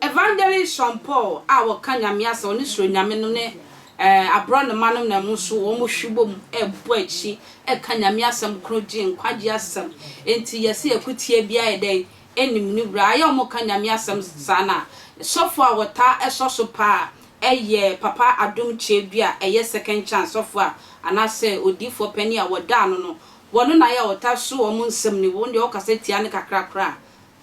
Evangelist Sean Paul a wɔka Nyame asɛm, ɔne Suro Nyame no ne aborɔnoma no nam nso wɔhwe bom bɔ akyi ka Nyame asɛm koro gye nkwagye asɛm. Enti yɛse akutia biara yɛ dɛn? nim no wura ayɛ wɔn ka Nyame asɛm saa no a, sɔfo a wɔtaa sɔ so paa yɛ Papa Adom Kyɛ bi a ɛyɛ Second Chance sɔfo a anaasɛ odiifoɔ panin a wɔda ano no, wɔno na ayɛ a wɔtaa so wɔn nsɛm no, wɔn deɛ wokasa tia no kakra koraa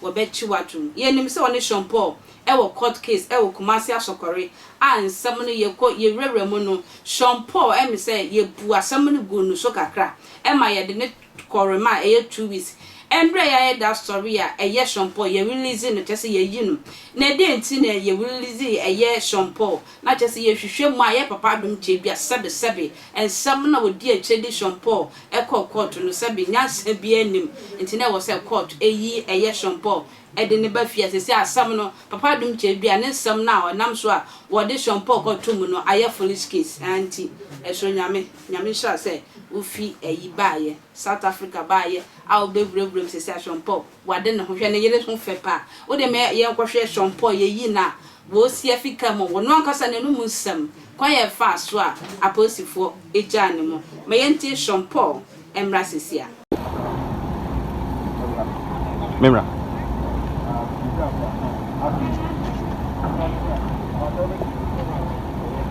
a wɔbɛkye wo atom. Yɛnim sɛ wɔne Sean Paul wɔ court case wɔ Kumasi Asɔkɔre a nsɛm no yɛkɔ yɛwurawura mu no, Sean Paul ɛm sɛ yɛbu asɛm no guu no so kakra ma yɛde no Kɔrem a ɛyɛ two weeks ɛmbrɛ yayɛ da sɔre a ɛyɛ shɔmpɔɔ yɛ release no kyerɛ sɛ yɛyi no na dɛn nti na yɛ release ɛyɛ shɔmpɔɔ na kyerɛ sɛ yɛ hwehwɛ mu a yɛ papa adom kyɛ bi a sɛbe sɛbe nsɛm na ɔdi akyire de shɔmpɔɔ ɛkɔɔ kɔɔto no sɛbe nyansa biaa nnim nti na ɛwɔ sɛ kɔɔto ɛyi ɛyɛ shɔmpɔɔ de ne ba fie a seesei asɛm no Papa Adom kyerɛ dua ne nsɛm no a ɔnam so a wɔde soɔmpɔɔ kɔto mu no ayɛ Phoenix Kids a nti ɛsoro Nyame Nyame nhyira sɛ wofi ayi baayɛ South Africa baayɛ a wobɛwurawura mu seesei a soɔmpɔɔ wade ne ho hwɛ ne yere ho fɛ paa wode ma yɛnkɔhwɛ soɔmpɔɔ yɛyi no a Woosi afi ka mu, wɔn ankasa n'anom nsɛm, kwan a ɛfaa so a apolisifo gyaa no mu. Ma yɛntie Sean Paul mmra sesia. Memmra.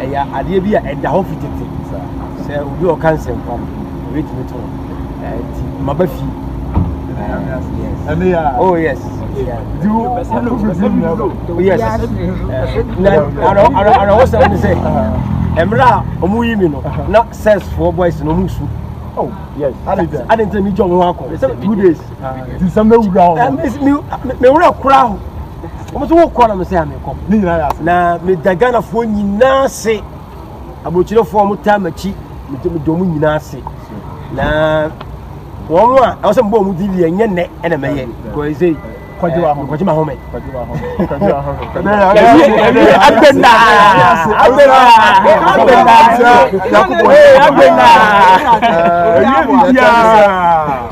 ɛyɛ adeɛ bi a ɛda hɔ fi tete sɛ obi a ɔka nsɛmpa no ɛbɛtumi to nti maba fi Oh yes. Do you oh, yes. And I was saying to say, Emra, omu yimi no, na says for boys no musu. Oh yes. I didn't I didn't tell me job one call. Two days. This is me wura. Me wura kura. wɔn so wokɔ na mesɛ amekɔ ne nyinaa yɛ ase na meda ghanafoɔ nyinaa se aburokyerefoɔ a wɔtaa m'akyi mede wɔn nyinaa se na wɔn a ɛwɔ sɛ mbɔ wɔn di deɛ nyɛ nnɛ ɛna mɛyɛ kɔɛ sɛ kɔgye wa home kɔgye ma home kɔgye wa home kɔgye wa home abena abena abena yakubu abena eyi bi biara.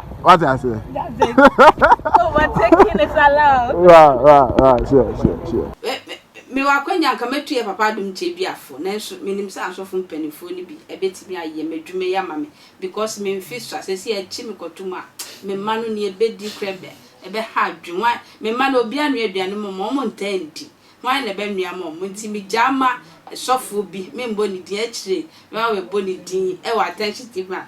What I say? That's it. Overtaking is allowed. Right, right, right. Sure, sure, sure. Me, me, me wakwanya nka mɛtu yɛ papa adom kyɛ bi afo nanso menim sɛ asɔfo mpanimfoɔ no bi ɛbɛtumi ayɛ m'adwuma yi ama me because me mfe so a sɛsi akyi mekɔto mu a me mma no ne ɛbɛdi korɛ bɛ ɛbɛha adwene wɔn me mma no obi anoa aduane mu ma wɔn ntaa ndi wɔn na ɛbɛnoa ma wɔn nti megyaa ma sɔfoɔ bi membɔ ne din akyire na wɔabɔ ne din ɛwɔ attention tv a